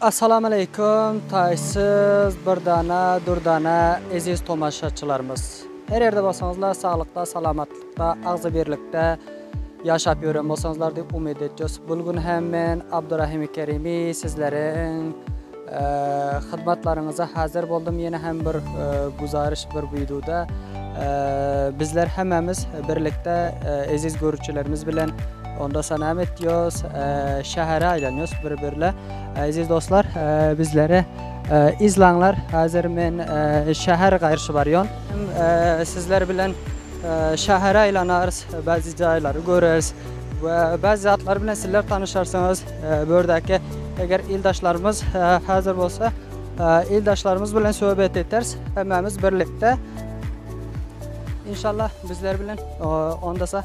Assalamaleykum taýsyz Dürdana Dürdana eziz tomaşaçylarymyz her ýerde bolsaňyzlar saglykda salamatlykda agzybirlikde ýaşap ýören bolsaňyzlar diýip umyt etjus bul gün hem men Abdurahimi Kerimi sizleriň hyzmatlaryňyza hazir boldum ýene hem bir güzaryş bir widuda bizler hemmämiz birlikde eziz görüjilerimiz bilen Onda sa näme etýos şähere aýlanýos bir birle eziz dostlar bizleri izlaňlar hazir men şäher gaýrşy barýon sizler bilen şähere aýlanarys bazi jaýlary göreris we bazi zatlar bilen sizler tanyşarsyňyz bördäki eger ildaşlarymyz hazir bolsa ildaşlarymyz bilen söhbet eters hemmemiz birlikde inşallah bizler bilen onda sa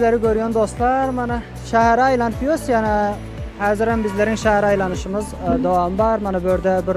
bizleri görýän dostlar, mana şähere aýlanyp ýörüs, ýana häzirem bizleriň şähere aýlanyşymyz e, dowam bar. Mana bu ýerde bir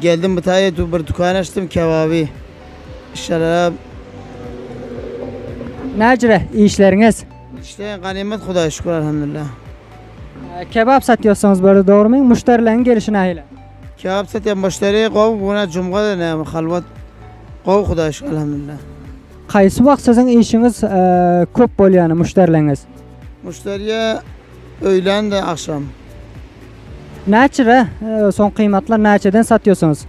Geldim Hytaýa tu bir dükan açdym kebaby şarap. Näcre işleriňiz? İşler ganymat Hudaýa şükür alhamdulillah. Kebap satýorsyňyz börde dogrymy? Muşdarileriň gelişi nähile? Kebap satýan muşderi gowy bu günä jumgada näme halwat gowy Hudaýa şükür alhamdulillah. Haýsy wagt siziň işiňiz köp bolýany muşdarileriňiz? Muşderiye öýlän-de agşam. Näçe soň gyýmatlar näçeden satýorsyňyz?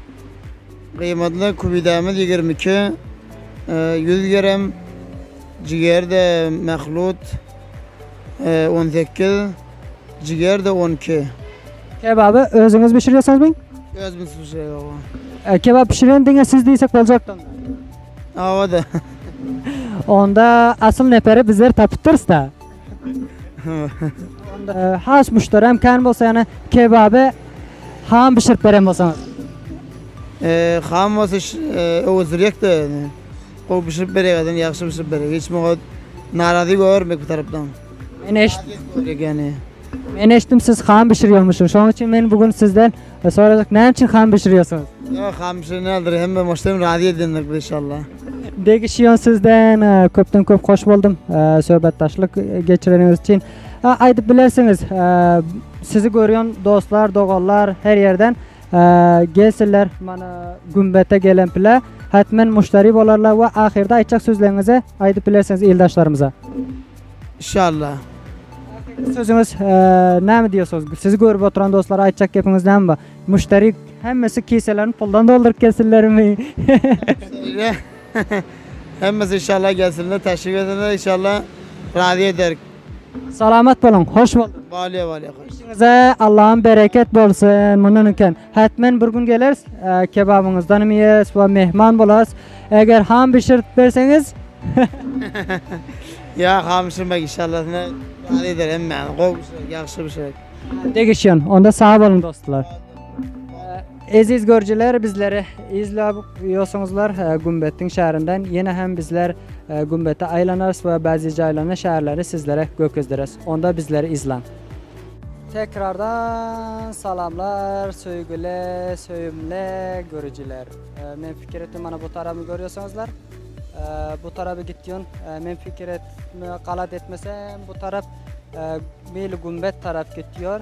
Gyýmatlar kübidämiz ýigrimi iki, ýüz gerem, jigerde mahlut on sekiz, jigerde on iki. Kebaby özüňiz bişirýorsyňyzmy? Özümiz bişirýäs. Kebap bişiren diňe siz diýsek boljak dal. Owa-da. Onda asyl neperi bizler tapypdyrys-da. Has müşteri hem kän bolsa yani kebaby ham pişirip beren bolsaňyz. Ee, ham bolsa öwüzdirjek de yani. O pişirip berýär adam ýagşy pişirip berýär. Hiç muňa narazy görmek bir tarapdan. Men eşit, Gerek yani. men eşitdim siz ham pişirýärmişsiň. Şonuň üçin men bugün sizden E soradyk näme üçin ham bişirýärsiňiz? Ýa ham bişirýändir hem de maşdem razy edýändir bu inşallah. Degi şiýon sizden e, köpden köp hoş boldum e, söhbetdaşlyk geçireniňiz üçin. E, Aýdyp bilersiňiz e, sizi görýän dostlar, doganlar her ýerden e, gelsinler mana gümbete gelen pile hatmen muşteri bolarlar we ahyrda aýtjak sözleriňizi aýdyp bilersiňiz ildaşlarymyza. Inşallah. Sözüňiz näme diýýärsiňiz? Sizi görüp oturan dostlara aýtjak gepiňiz näme bar? Müşderi hemmesi kiselerini puldan dolduryp gelsinlermi? Hemmesi inşallah gelsinler, teşrif edenler inşallah razy eder. Salamat boluň, hoş bolduň. Bale bale. Işiňize Allahym bereket bolsun. Mundan öňken Hätmen bir gün geleris, kebabyňyzdanam iýeris we myhman bolarys. Eger ham bişirip berseňiz. Ýa ham bişirmek inşallah ne ýaly eder hemmäni gowy bişirek, ýagşy bişirek. Degişýän. Onda sag boluň dostlar. Eziz görüjiler bizleri izläp ýörsiňizler Gümbetdiň şäherinden. Ýene hem bizler Gümbete aýlanarys we bäzi jaýlaryny, şäherleri sizlere görkezdiris. Onda bizleri izläň. Tekrardan salamlar söýgüli söýümli görüjiler. Men pikir etdim mana bu tarabyny görýärsiňizler. Bu taraby gitýän men pikir etme galat etmesem bu tarap meýli gümbet tarap gitýär.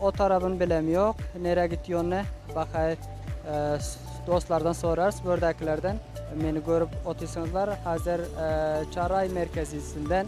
O tarabyn bilem ýok. Nere gitýäni bakaý dostlardan sorarys bördäkilerden. Meni görüp otyrsyňyzlar. Hazir Çaraý merkezisinden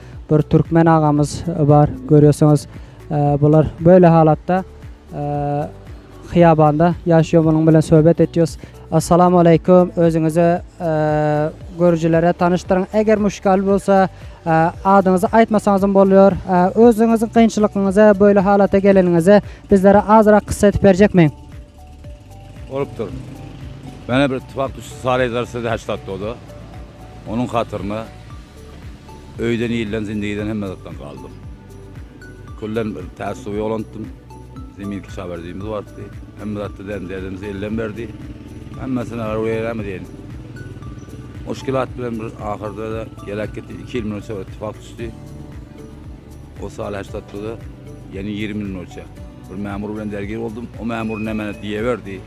bir türkmen agamyz bar görýärsiňiz bular böyle halatda hyýabanda ýaşýar munuň bilen söhbet etýäs Assalamu aleykum özüňizi görüjilere tanyşdyryň eger muşkal bolsa adyňyzy aýtmasaňyzam bolýar özüňiziň kynçylygyňyzy böyle halata geleniňizi bizlere azyrak kyssa edip berjekmi Bolupdyr Mene bir ittifak düşdi saryjlar size haştatdoda onuň hatyryna Öýden, ilden, zindigiden hemme zatdan galdym. Külden bir täz suw ýoglantdym. Zemin kişawerdiýimiz bardy. Hemme zatda däm-derdimizi elden berdi. Hemmesine gara göýälämi diýen. Muşkilat bilen bir ahyrda-da geläk gitdi. Iki ýyl mundan çagyr ittifak düşdi. O sal heşdatda-da, ýene ýigrimi ýyl mundan öçe bir mämur bilen dergir boldum. O mämur nämäni diýeberdi.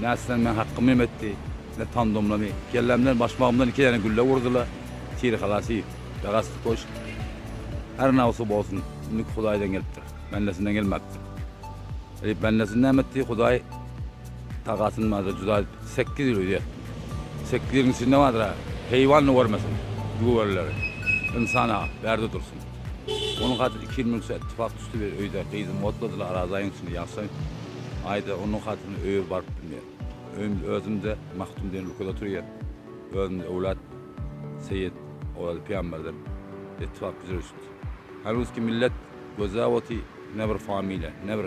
Nätseň meň hakkymy hem etdi, ne pandomlamy, kellämden, başmagymdan iki däne gülle urdy-la, Tir halasi, begast köşk. Her nabsi bolsun, indiki Hudaýdan gelipdir, bendesinden gelmäpdir. Eýp bendesini näme etdi, Hudaý tagasyny barada juda sekiz ýüz öýde etdi. Sekiz ýüzüň içinde bardyr-a, heýwan-da görmesin, göwrelileri. Ynsan-a, bärde dursun. Ony hatyr iki ýyl münse ittifak düşdi bir öýde gyzym otladylar araz aýyň içinde ýagşaň aýda onuň hatyryna öýe baryp bilmeýän. Öýümde özümde Mahtum diýen ülkede oturýan özümde öwlat Seýit Orazi pyýamberden ittifak güjüreşdi. Hanuski millet gözläp oty ne bir familýa ne bir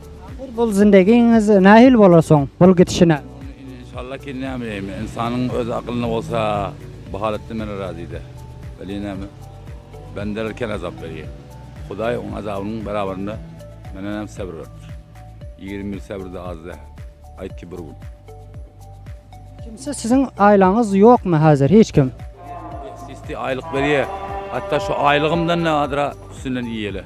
Bul zindegiňiz nähili bolar soň bul gidişine. Inşallah ki näme diýeýin ynsanyň öz aklynda bolsa bu halatdan men razyda. Welin näme bendeler kän azap berýär. Hudaý oň azabynyň beraberinde menden hem sebr beripdir. Ýigrimi ýyl sebr-de az däl. Aýt ki bir gün. Kimsi siziň aýlaňyz ýokmy häzir hiç kim. Sisti aýlyk berýär. Hatda şu aýlygymdan-da azra üstünden iýýäler.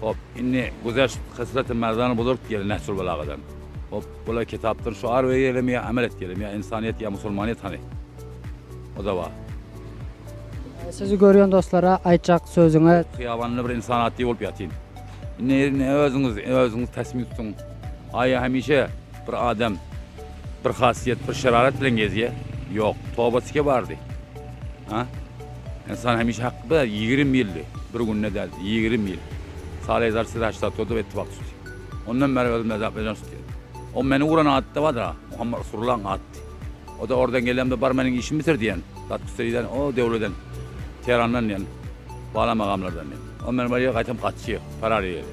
Hop, indi Güzeş hysleti merdana buzurk gel Nehjul belagadan. Hop, bula kitapdan şuar berýelim ýa amel etýelim, ýa ynsanýet ýa musulmanyýet hany? Odawa. Sizi görýän dostlara aýtjak sözüňiz? Hyýabanda bir ynsan atly bolup ýatyn. Indi indi özüňiz özüňiz tasmim tutuň. Aýa hemişe bir adam bir hasiýet bir şerarat bilen gezýä? Ýok, toba tike bardy. Ha? Ynsan hemişe hakda ýigrimi ýyldy, bir günde däl, ýigrimi ýyl. Salezar size haçda tutdy we ittifak tutdy. Ondan bäri özüm Azerbaýjan tutýan. O meni uran atda barda, Muhammet Rusullaň atdy. O-da oradan gelemde bar meniň işimi bitir diýen, dat küstediden, o döwleden, Terandan diýen, bala magamlardan diýen. O meni barýa gaýtam gaçýa, parar ýeri.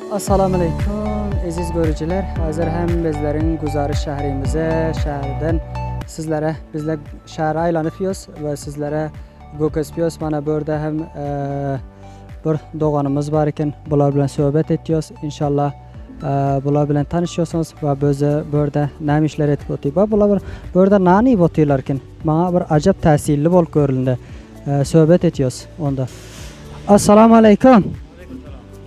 Assalamu aleýkum eziz görüjiler hazir hem bizleriň güzary şährimize şäherden sizlere bizle şäheri aýlanyp ýös we sizlere gökesip ýös mana bu ýerde hem bir doganymyz bar eken bular bilen söhbet etýös inşallah bular bilen tanyşýorsyňyz we bize bu ýerde näme işler edip otyr we bular bir bu ýerde nan iýip otyrlar eken maňa bir ajap täsirli bolup görüldi söhbet etýös onda assalamu aleýkum